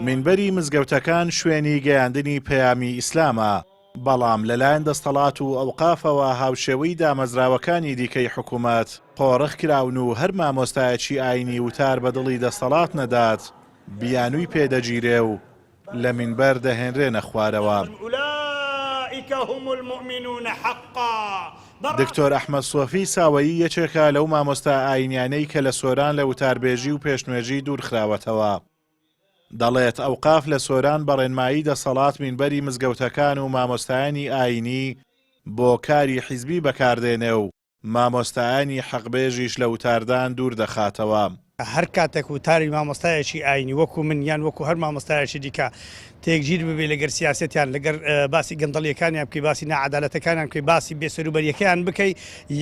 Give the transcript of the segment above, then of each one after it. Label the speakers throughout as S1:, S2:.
S1: مینبەری
S2: مزگەوتەکان شوێنی گەیاندنی پەیامی ئیسلامە، بەڵام لەلایەن دەستەڵات و ئەوقافەوە هاوشێوەی دامەزراوەکانی دیکەی حکوومەت قۆرخ کراون و هەر مامۆستایەکی ئایینی وتار بە دڵی دەستەڵات نەدات بیانووی پێ دەگیرێ و لە مینبەر دەهێنرێنە خوارەوە.
S1: دکتۆر
S2: ئەحمەد سۆفی ساوەیی یەکێکە لەو مامۆستا ئایینیانەی کە لە سۆران لە وتاربێژی و پێشنوێژی دوورخراوەتەوە. دەڵێت ئەوقاف لە سۆران بە ڕێنمایی دەسەڵات مینبەری مزگەوتەکان و مامۆستایانی ئایینی بۆ کاری حیزبی بەکاردێنێ و مامۆستایانی حەقبێژیش لە وتاردان دوور دەخاتەوە. هەر کاتێک
S3: وتاری مامۆستایەکی ئایینی وەکوو من یان وەکوو هەر مامۆستایەکی دیکە تێکگیر ببێ لەگەر سیاسەتیان لەگەر باسی گەندەڵیەکانیان بکەی باسی ناعەدالەتەکانیان بکەی باسی بێ سەروبەریەکەیان بکەی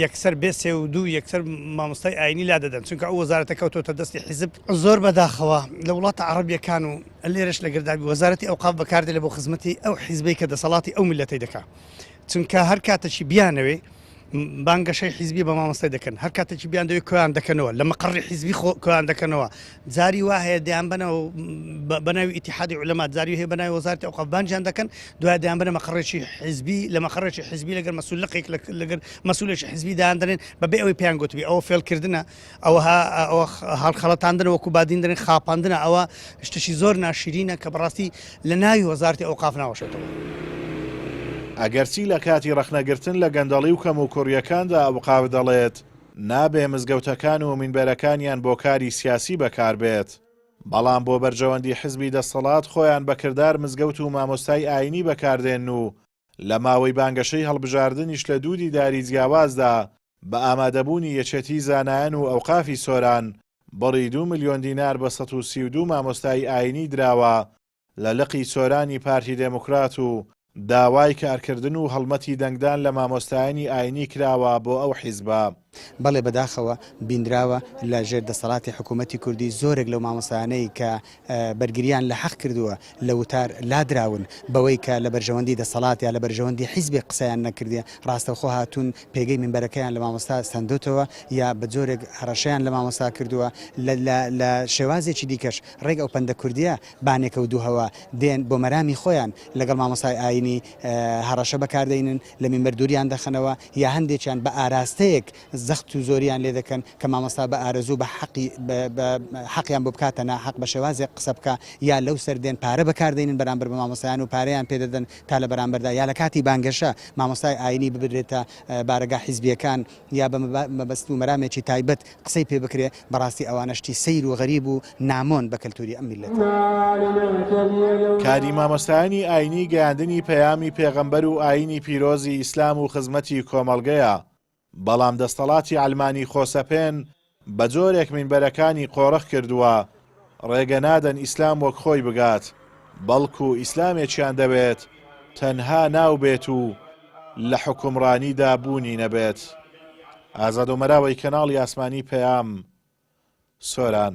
S3: یەکسەر بێ سێ و دوو یەکسەر مامۆستای ئایینی لا دەدەن چونکە ئەو وەزارەتە کەوتۆتە دەستی حیزب. زۆر بەداخەوە لە وڵاتە عەڕەبیەکان و لێرەش لەگەر دابی وەزارەتی ئەوقاف بەکاردێ لە بۆ خزمەتی ئەو حیزبەی کە دەسەڵاتی ئەو میللەتەی دەکا چونکە هەر کاتەکی بیانەوێ بانگەشەی حیزبی بە مامۆستای دەکەن هەر کاتێکی بیان دەوێت کۆیان دەکەنەوە لە مەقڕی حیزبی خۆ کۆیان دەکەنەوە جاری وا هەیە دەیان بنەوە بەناوی ئیتحادی علەما جاری هەیە بەناوی وەزارتی ئەو قەبانجیان دەکەن دوای دەیان بنە مەقڕێکی حیزبی لە مەقڕێکی حیزبی لەگەر مەسول لەقێک لەگەر مەسولێکی حیزبی دایاندرێن بەبێ ئەوەی پێیان گوتبی ئەوە فێلکردە ئەوە هەڵخەڵەتاندنە وەکو بادیندرێن خاپاندنە ئەوە شتشی زۆر ناشرینە کە بەڕاستی لە ناوی وەزارتی ئەو قاف ناوەشێتەوە.
S2: ئەگەرچی لە کاتی ڕەخنەگرتن لە گەندەڵی و کەموکوڕیەکاندا ئەوقاف دەڵێت نابێ مزگەوتەکان و مینبەرەکانیان بۆ کاری سیاسی بەکاربێت، بەڵام بۆ بەرژەوەندی حزبی دەستەڵات خۆیان بە کردار مزگەوت و مامۆستای ئاینی بەکاردێنن و لە ماوەی بانگەشەی هەڵبژاردنیش لە دوو دیداری جیاوازدا بە ئامادەبوونی یەکێتیی زانایان و ئەوقافی سۆران بڕی دوو ملیۆن دینار بە سەد و سی و دوو مامۆستای ئایینی دراوە لە لقی سۆرانی پارتی دێموکرات و داوای کارکردن و هەڵمەتی دەنگدان لە مامۆستایانی ئایینی کراوە بۆ ئەو حیزبە. بەڵێ بەداخەوە
S4: بینراوە لە ژێر دەسەڵاتی حکوومەتی کوردی زۆرێک لەو مامۆستایانەی کە بەرگریان لە حەق کردووە لە وتار لادراون بەوەی کە لە بەرژەوەندی دەسەڵات یا لە بەرژەوەندی حیزبێک قسەیان نەکردێ ڕاستەوخۆ هاتوون پێگەی مینبەرەکەیان لە مامۆستا سەندۆتەوە یا بە جۆرێک هەڕەشەیان لە مامۆستا کردووە لە شێوازێکی دیکەش ڕێک ئەو پەندە کوردییە بانێکەوتووهوە دێن بۆ مەرامی خۆیان لەگەڵ مامۆستای ئاینی هەڕەشە بەکاردێنن لە مینبەر دووریان دەخەنەوە یا هەندێکیان بە ئاراستەیەک زەخت و زۆریان لێ دەکەن کە مامۆستا بە ئارەزوو بە حەقی بە حەقیان بۆ بکاتە ناحەق بە شێوازێک قسە بکا یا لەو سەر دێن پارە بەکار دەینن بەرامبەر بە مامۆستایان و پارەیان پێ دەدەن تا لە بەرامبەردا یا لە کاتی بانگەشە مامۆستای ئاینی ببرێتە بارەگا حیزبیەکان یا بە مەبەست و مەرامێکی تایبەت قسەی پێ بکرێ، بەڕاستی ئەوانە شتی سەیر و غەریب و نامۆن بە کەلتوری ئەم میللەتە. کاری
S2: مامۆستایانی ئاینی گەیاندنی پەیامی پێغەمبەر و ئاینی پیرۆزی ئیسلام و خزمەتی کۆمەڵگەیە، بەڵام دەستەڵاتی عەلمانی خۆسەپێن بەجۆرێک مینبەرەکانی قۆرخ کردووە ڕێگەنادەن ئیسلام وەک خۆی بگات بەڵکو ئیسلامێکیان دەوێت تەنها ناو بێت و لە حوکمڕانیدا بوونی نەبێت. ئازادۆمەراوەی کەناڵی ئاسمانی پەیام، سۆران.